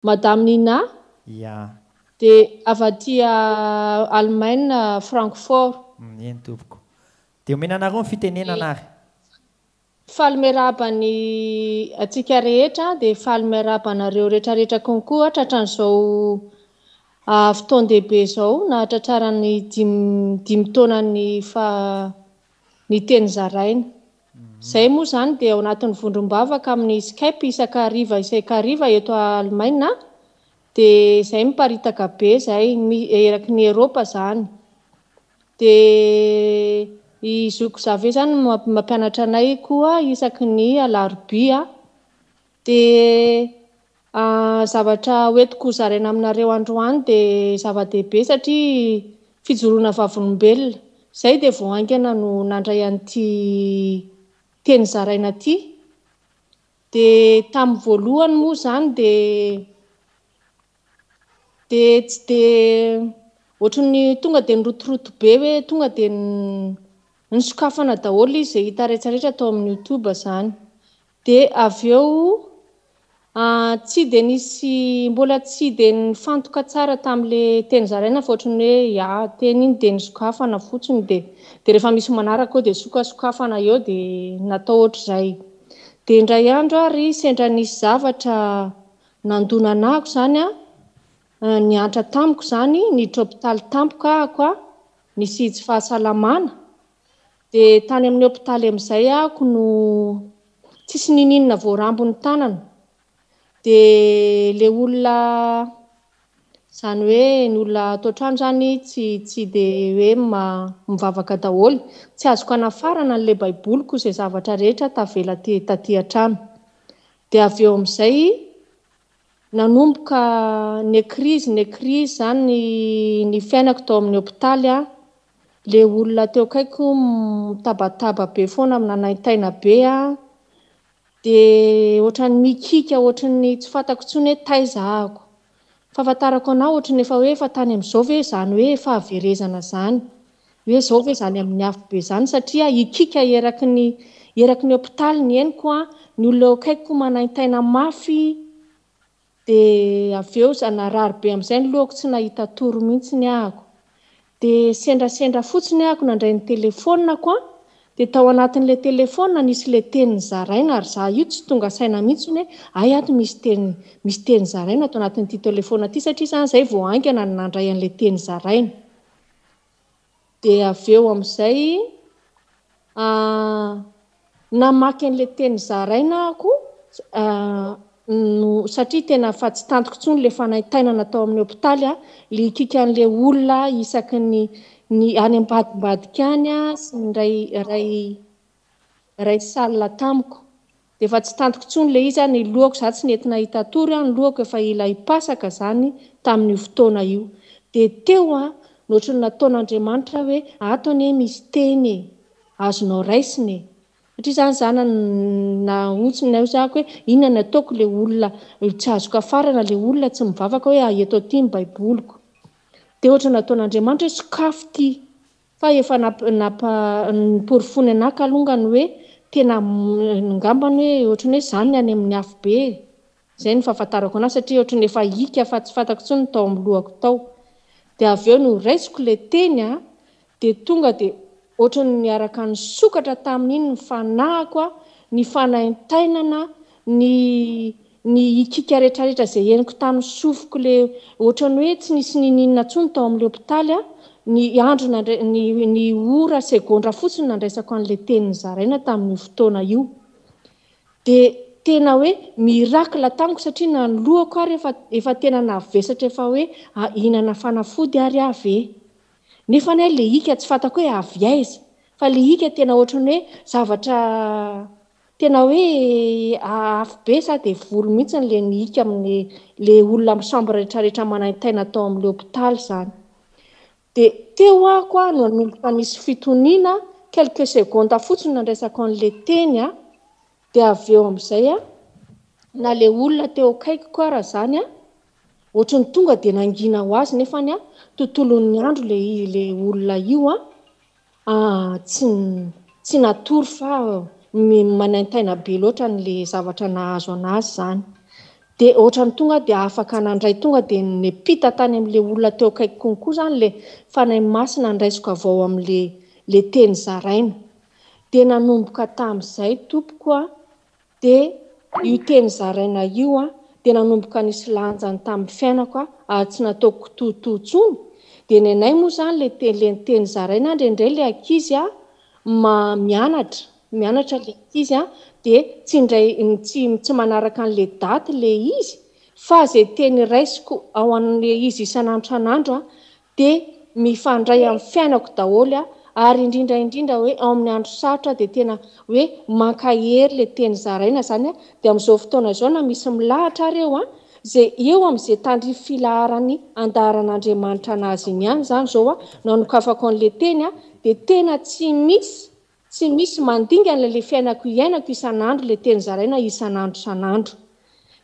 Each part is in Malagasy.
Madame Nina, Yeah. Dia avy aty Allemagne, Francfort. Eny tompoko. Dia omena anareo ny fitenenana ary. Faly miarahaba ny antsika rehetra dia faly miarahaba anareo retraretra konkoa tratran'izao fotoan-dehibe izao nahatratrarany dimy dimy taonany fa ny teny zaraina. Izay moa izany dia ao anatin'ny vondrom-bavaka amin'ny Skype isaka hariva isaik'hariva eto Alemaina dia izay miparitaka be izay eraky ny Eropa izany dia i zoky Xavier izany mampianatra anay koa isaky ny alarobia Dia zavatra hoentiko hozaraina aminareo androany dia zava-dehibe satria fijoroana vavolombelona. Izay dia vao haingana no nandray an'ity teny zaraina ity. Dia tamin'ny voalohany moa izany dia dia tsy dia ohatran'ny tonga dia nirotoroto be hoe tonga dia nisokafana daholo izy izay hita rehetra rehetra tao amin'ny youtube izany. Dia avy eo an, tsy dia nisy, mbola tsy dia nifantoka tsara tamin'ilay teny zaraina fa ohatran'ny hoe ya, teny iny dia nisokafana fotsiny dia dia rehefa misy manaraka eo dia sokasokafana eo dia natao ohatr'izay. Dia indray andro ary sendra nisy zavatra nandona anah ko izany an, niantra tamiko izany, niditra hopitaly tampoka ahako an, nisy tsy fahasalamana, dia tany amin'ny hopitaly amin'izay ako no tsisy nininona voarambo ny tanana dia le olona zany hoe ny olona ato an-trano zany tsy tsy de hoe mivavaka daholo tsy azoko anafarana an'le baiboliko izay zavatra rehetra tavela aty taty an-trano dia avy eo amin'izay nanomboka ny krizy ny krizy zany ny fiainako tao amin'ny hopitaly a Le olona teo akaikiko mitabataba be foana minanaintaina be a de ohatran'ny mikiaka ohatran'ny tsy fantako intsony hoe taiza ahako fahafantarako anao ohatran'ny efa hoe efa tany amin'izao ve izany hoe fahaverezana izany hoe izao ve izany amin'ny afobe izany satria hikiaka eraky ny eraky ny hopitaly ny henoko a ny olona eo akaikiko manaintaina mafy Dia avy eo za narary be amin'izay ny lohako tsy nahita tory mihitsy ny ahako. Dia sendrasendra fotsiny ahako nandray ny telefonako an! Dia tao anatin'ilay telefona nisy ilay teny zaraina ary za io tsy tonga saina mihitsy ny hoe hay ato misy teny misy teny zaraina ato anatin'ity telefona ity satria za izay vao haingana no nandray an'ilay teny zaraina. Dia avy eo amin'izay, namaky an'ilay teny zaraina aho koa, satria tena efa tsy tantiko intsony ilay fanaintainana tao amin'ny hopitaly, ilay hikiaka an'ilay olona isaky ny any ambadimbadika any sy ny iray iray. Iray salina tamiko. Dia efa tsy tantiko tsony ilay izy a, ny lohako za tsy nety nahita hatory a, ny lohako efa ela hipasaka zany tamin'io fotoana io. Dia teo a, ny ohatry ny nataon'Andriamanitra hoe ato anie misy teny e, azonao raisina e. Satria za nizana nahotsiny ny aizako hoe inona ny ataoko ilay olona tsy azo kafarana, ilay olona tsy mivavaka hoe eto aty ny baiboliko. Dia ohatry ny nataon'Andriamanitra hoe sokafy ity. Fa efa nampa noporofoiny anah kalongany hoe tena ngambany hoe ohatrany hoe zany ny any amin'ny afobe e! zay no fahafantarako anah satria ohatrany efa hiaka fa tsy fantako intsony ny tao amin'ny lohako tao dia avy eo no raisiko le teny a! dia tonga dia ohatrany niaraka nisokatra tamin'iny ny fanahiko a! ny fanaintainana, ny Ny hikiaka retraretra izay henoko tamin'ny sofiko le ohatran'ny hoe tsy nisy nininona tsony tao amin'le hopitaly aho, ny andro nandra, ny ny ora, segondra fotsiny nandraisako an'le teny nozaraina tamin'io fotoana io. De tena hoe miracle tamiko satria nanoloako ary efa efa tena navesatra efa hoe hihinana fanafody ary aho ve? Nefa anie le hika tsy fantako hoe avy aiza fa le hika tena ohatran'ny hoe zavatra Tena hoe afo be sa dia voly mihitsy le nihiaka amin'ny le olona misambo rehetrarehetra manaintaina tao amin'ilay hopitaly izany. Dia teo ako aho no nanomboka nisy fitoniana, quelques secondes fotsiny nandraisako an'ilay teny aho, dia avy eo amin'izay na le olona teo akaikiko ara izany ohatran'ny tonga dia nangina ho azy nefany tontolon'ny andro le olona io. Ah, tsy, tsy natory fa manaintaina be loatra an'le zavatra nahazo anazy izany. Dia ohatran'ny tonga aho dia afaka nandray, tonga dia nepita tany amin'le olona teo akaiky konko izany le Fanahy Masina handraisiko avy ao amin'le le teny zaraina. Dia nanomboka tamin'izay tompoko an, Dia io teny zaraina io dia nanomboka nisy lanjany tamin'ny fiainako aho ary tsy nataoko kitoatoa intsony, dia ny anay moa izany ilay teny ilay teny zaraina ary indraindray ilay ankizy mianatra mianatra ilay ankizy dia tsy indray tsy tsy manaraka an'ilay daty ilay izy fa izay teny raisiko ao an'ilay izy isan'andro isan'andro dia mifandray amin'ny fiainako daholo ary indrindra indrindra hoe ao amin'ny andro sarotra dia tena hoe mankahery ilay teny zaraina izany aho dia amin'izao fotoana izao na misy milahatra ary eo an, izay eo amin'izay tandrify filaharan'ny andaharan'Andriamanitra anazy iny ihany izany izao aho no anokafako an'ilay teny an, dia tena tsy misy Tsy misy mandingana ilay fiainako iainako isan'andro ilay teny zaraina isan'andro isan'andro.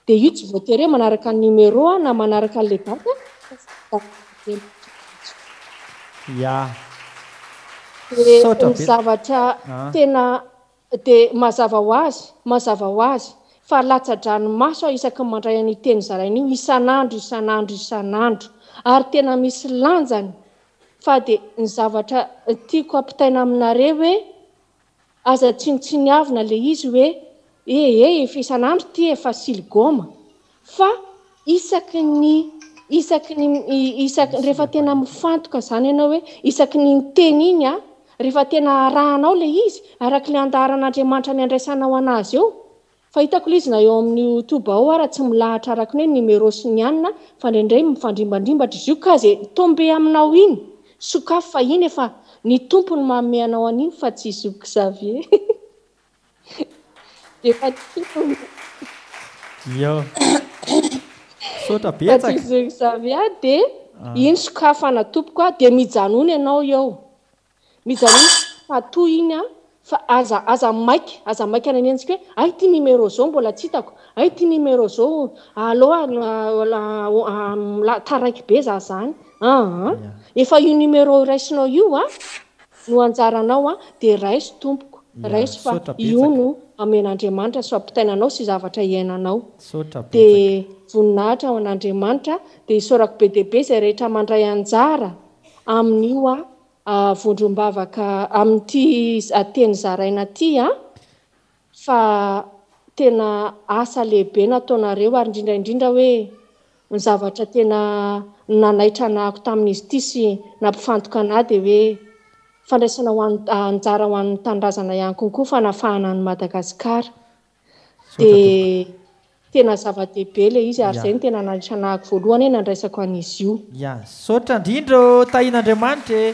Dia io tsy voatery hoe manaraka ny numéro aho na manaraka an'ilay date fa zavatra Ya. Dia ny zavatra tena dia mazava ho azy, mazava ho azy fa latsa-dranomaso aho isaky ny mandray an'io teny zaraina io isan'andro, isan'andro, isan'andro ary tena misy lanjany fa dia ny zavatra tiako ampitaina aminareo hoe aza tsinontsiniavina ilay izy hoe e e efa isan'andro ity efa siligoma fa isaky ny isaky ny isaky rehefa tena mifantoka izany ianao hoe isaky ny miteny iny a rehefa tena arahanao ilay izy araka ilay andaharan'Andriamanitra ny andraisanao anazy eo Fa hitako lzy na eo amin'ny youtube ao ara tsy milahatra araka ny hoe numéro sy ny anona fa indraindray mifandrimbandrimbatra izy io ka ze tombe aminao iny sokafy fa iny efa ny tompo no manome anao an'iny fa tsy zoky Xavier dia efa ny tompo no Iao. Misaotra fa tsy betsaka. zoky Xavier dia iny sokafana tompoko a dia mijanona ianao eo Mijanona fa toy iny an! fa aza aza maika aza maika any antsika hoe hay ity numéro zao mbola tsy hitako hay ity numéro zao allo taraiky be za zany aa efa io numéro iraisinao io a no anjaranao a dia raiso tompoko raiso fa io no amen'Andriamanitra sy ampitaina anao sy zavatra iainanao dia voninahitra ho an'Andriamanitra dia isaorako be dia be izay rehetra mandray anjara amin'io vondrom-bavaka amin'ity teny zaraina ity fa tena asa lehibe nataonareo ary indrindra indrindra hoe ny zavatra tena nanaitra anahako tamin'izy ity sy nampifantoka anah dia hoe fandraisana ho anjara ho an'ny tanindrazana ihany konkoa fanafahana an'i Madagasikara. dia tena zava-dehibe ilay izy ary izay no tena nananako voalohany nandraisako an'izy io. Ya, misaotra indrindra ô Tahin'Andriamanitra e!